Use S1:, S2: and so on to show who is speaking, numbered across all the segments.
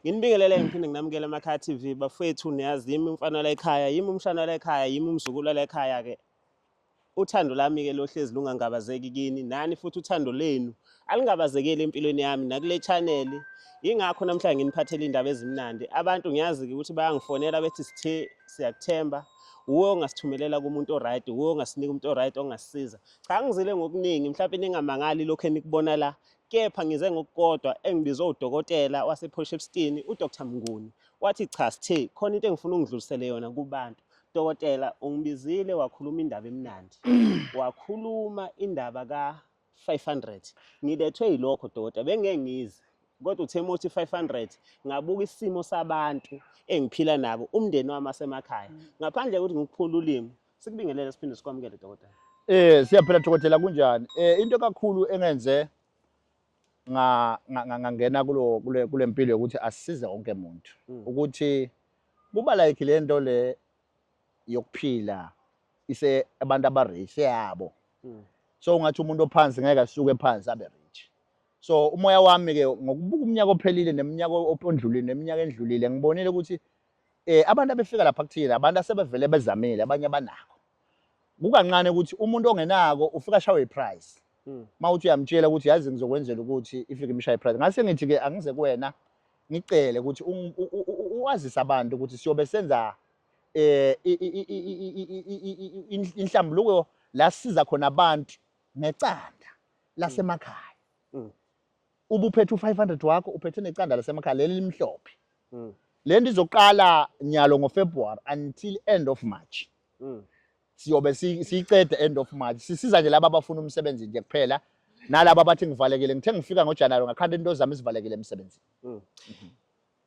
S1: Nginibingelele ngiphinde nginamukele emakhaya TV bafethu niyazi yimi umfana la ekhaya yimi umshana la ekhaya yimi umzukulu la ekhaya ke uthando lami ke lohlezi lungangabazeki kini nani futhi uthando lenu alingabazekeli empilweni yami nakule channel ingakho namhlanje nginiphathele indaba ezimnandi abantu ngiyazi ukuthi bayangifonela bethi sithe siyakuthemba wuwe ongasithumelela kumuntu oright wuwe ongasinika umuntu oright ongasisiza cha ngizile ngokuningi mhlawumbe ningamangali lokho enikubona la kepha ngize ngokukodwa engibizwe udokotela wasePort Shepstone uDr Mnguni wathi cha sithe khona into engifuna ungidlulisele yona kubantu dokotela ungibizile wakhuluma indaba emnandi wakhuluma indaba ka 500 ngilethwe yilokho dokotela bengeke ngize kodwa uthe mothi 500 ngabuka isimo sabantu engiphila nabo umndeni wami asemakhaya ngaphandle kokuthi ngikuphula ulimi Sikubingelele siphinde sikwamukele dokotela. Eh siyaphela
S2: dokotela kunjani? Eh into kakhulu engenze nga ngangena kulo kule kulempilo ukuthi asisize wonke umuntu hmm. ukuthi kuba like lento le yokuphila ise abantu abarich yabo hmm. so ungathi umuntu ophansi ngeke asuke phansi abe rich so umoya wami ke ngokubuka umnyaka ophelile neminyaka opondlulile neminyaka endlulile ngibonile ukuthi eh abantu abefika lapha kuthina abantu asebevele bezamile abanye abanako kukancane ukuthi umuntu ongenako ufika ashawe iprice hmm. mawuthi uyamtshela ukuthi yazi ngizokwenzela ukuthi ifike imshaye iprice ngase ngithi ke angize kuwena ngicele ukuthi uwazise abantu ukuthi siyobe senza eh inhlambuluko la siza khona abantu ngecanda lasemakhaya hmm. ubuphethe u-500 wakho uphethe necanda lasemakhaya leli limhlophe mm. le nto izoqala nyalo ngofebruary until end of march mm. siyobe siyicede end of march sisiza nje laba abafuna umsebenzi nje kuphela nalaba abathi ngivalekile ngithe ngifika ngojanuwari ngakhanda into zami zivalekile emsebenzini mm.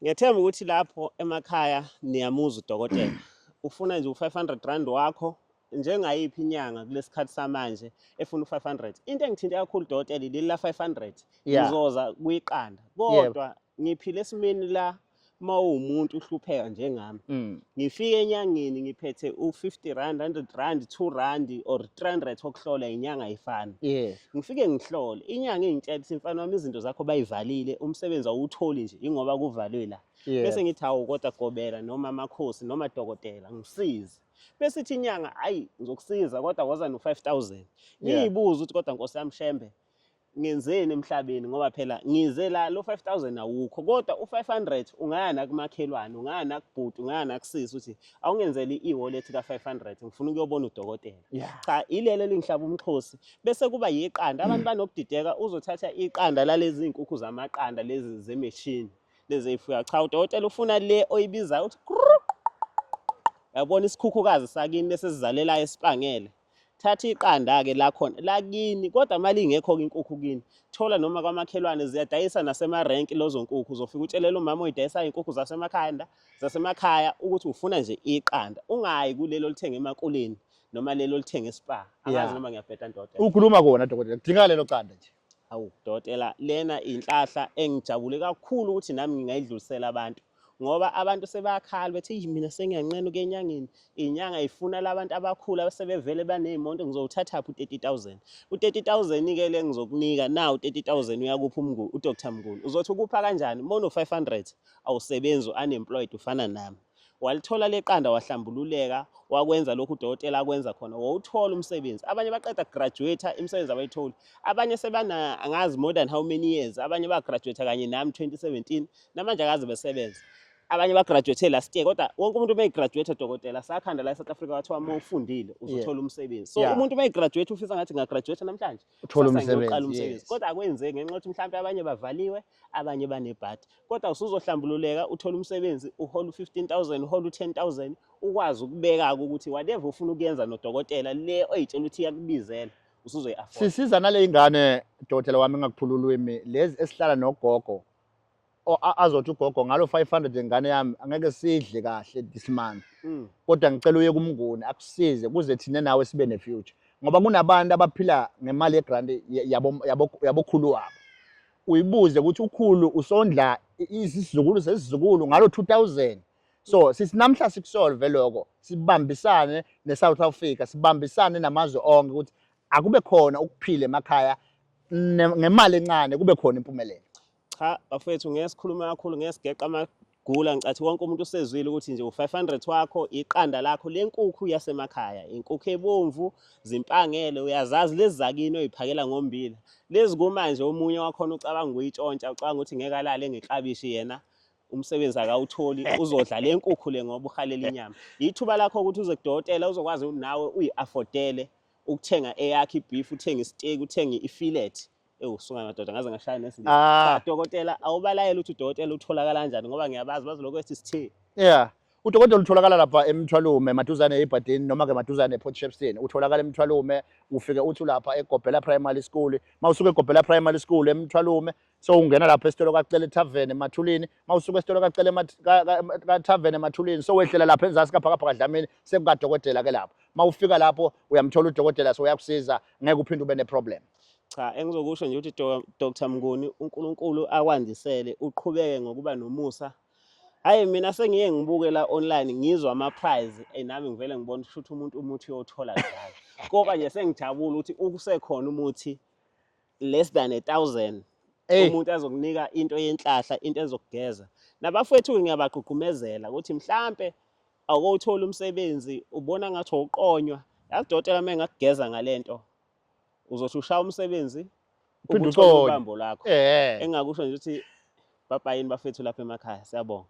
S1: Ngiyethemba ukuthi lapho emakhaya niyamuza udokotela. Ufuna nje u-500 rand wakho njengayiphi inyanga kulesikhathi samanje efuna u-500. Into engithinte kakhulu dokotela leli la 500. Yeah. Ngizoza kuyiqanda. Kodwa ngiphile esimeni la mawumuntu uhlupheka njengami. Mm. Ngifike enyangeni ngiphethe u-50 rand, 100 rand, 2 rand or 300 okuhlola inyanga ayifani. Yeah. ngifike ngihlole inyanga ingitshela ukuthi mfana wami izinto zakho bayivalile umsebenzi awutholi nje ingoba kuvalwe la bese ngithi hawu kodwa gobela noma amakhosi noma dokotela ngisize bese ithi inyanga ayi ngizokusiza kodwa woza no 5000 ngiyibuza ukuthi kodwa nkosi yami shembe ngenzeni emhlabeni ngoba phela ngize la lo 5000 awukho kodwa u500 ungaya nakumakhelwane ungaya nakubhuti ungaya nakusisi uthi awungenzeli i-wallet ka-500 ngifuna ukuyobona udokotela yeah. cha ilelo elingihlaba umxhosi bese kuba yiqanda abantu banokudideka uzothatha iqanda lalezi nkukhu zamaqanda lezi zemeshini lezi eyifuya cha udokotela ufuna le oyibizayo uthi yabona isikhukhukazi sakini bese sizalelayo esipangele thatha iqanda-ke lakhona lakini kodwa uma lingekho-ke inkukhu kini thola noma kwamakhelwane ziyadayisa nasemarenki lozo nkukhu uzofika utshelele umama oyidayisayo inkukhu zasemakhanda zasemakhaya ukuthi ufuna nje iqanda ungayi kulelo olithenga emakuleni noma lelo olithenga espa angazi noma ngiyabheda ndoda ukhuluma kona dokotela
S2: kudingeka lelo qanda nje Awu dokotela,
S1: lena inhlahla engijabule kakhulu ukuthi nami ngingayidlulisela abantu ngoba abantu sebakhala bethi "Eyi, mina sengiyanqena ukuya enyangeni inyanga ifuna labantu abakhulu abasebevele baney'monto ngizowuthathaphi u-30000 u-30000 ke le ngizokunika na u-30000 uyakuphi umnguni udr mnguni uzothi ukupha kanjani uma uno-500 awusebenzi u-unemployed ufana nami Walithola leqanda wahlambululeka wakwenza lokhu udokotela akwenza khona wawuthola umsebenzi abanye baqeda graduate imisebenzi abayitholi abanye sebana angazi more than how many years abanye ba graduate kanye nami 2017 namanje akaze besebenza abanye ba graduate last year kodwa wonke umuntu uma graduate dokotela sakhanda la eSouth Africa wathiwa uma ufundile uzothola umsebenzi so yeah. umuntu uma graduate ufisa ngathi nga graduate namhlanje uthola umsebenzi
S2: kodwa akwenzeki ngenxa
S1: ukuthi mhlawumbe abanye bavaliwe abanye banebhadi kodwa usuzohlambululeka uthole umsebenzi uhole u-15000 uhole u-10000 ukwazi ukubeka-ke ukuthi whatever ufuna ukuyenza nodokotela le oyitshela ukuthi iyakubizela usuzoyi-afford sisiza nale ingane
S2: dokotela wami engakuphula ulwimi lezi esihlala nogogo azothi ugogo ngalo 500 ingane yami angeke sidle kahle this month mm. kodwa ngicela uye kumnguni akusize kuze thina nawe sibe nefuture ngoba kunabantu abaphila ngemali yegrant yabokhulu wabo uyibuze ukuthi ukhulu usondla isizukulu sesizukulu ngalo 2000 so sisinamhla sikusolve lokho sibambisane neSouth Africa sibambisane namazwe onke ukuthi akube khona ukuphila emakhaya ngemali encane kube khona impumelelo cha
S1: bafethu ngeke sikhulume kakhulu ngeke sigeqa Gula ngicathi wonke umuntu usezwile ukuthi nje u500 wakho iqanda lakho lenkukhu yasemakhaya inkukhu ebomvu zimpangele uyazazi lezi zakini oyiphakela ngombila lezi kumanje omunye wakhona ucabanga ukuyitshontsha ucabanga ukuthi ngeke alale ngeklabishi yena umsebenzi akawutholi uzodla le nkukhu le ngoba uhalela inyama yithuba lakho ukuthi uze kudokotela uzokwazi nawe uyi-afodele ukuthenga eyakhe ibhifu uthenge isiteki uthenge ifilet ewu sunga madoda ngaze ngashaya nesilisa ah. ah dokotela awubalayela ukuthi udokotela utholakala kanjani ngoba ngiyabazi bazoloko ethi sithe yeah
S2: udokotela utholakala lapha emthwalume maduzane ebhadini noma ke maduzane eport shepston utholakala emthwalume ufike uthi ulapha egobhela primary school mawusuke egobhela primary school emthwalume so ungena lapha esitolo kacele tavern emathulini mawusuke esitolo kacele tavern emathulini so wehlela lapha enzasi kaphakaphaka dlamini sekukadokotela ke lapho mawufika lapho uyamthola udokotela so uyakusiza ngeke uphinde ube neproblem Cha engizokusho
S1: nje ukuthi Dr Mnguni uNkulunkulu akwandisele uqhubeke ngokuba nomusa Hayi mina sengiye ngibuke la online ngizwa ama prize eh nami ngivele ngibona ukuthi umuntu umuthi uyothola njalo. Koba nje sengijabula ukuthi ukusekhona umuthi less than a thousand umuntu azokunika into yenhlahla into ezokugeza. Nabafowethu ngiyabagqugqumezela ukuthi mhlampe awukowuthola umsebenzi ubona ngathi uqonywa. Yazi dokotela uma engakugeza ngalento uzothi ushaya umsebenzi ukuthola ubambo lakho eh. engakusho nje ukuthi baba yini bafethu lapha emakhaya siyabonga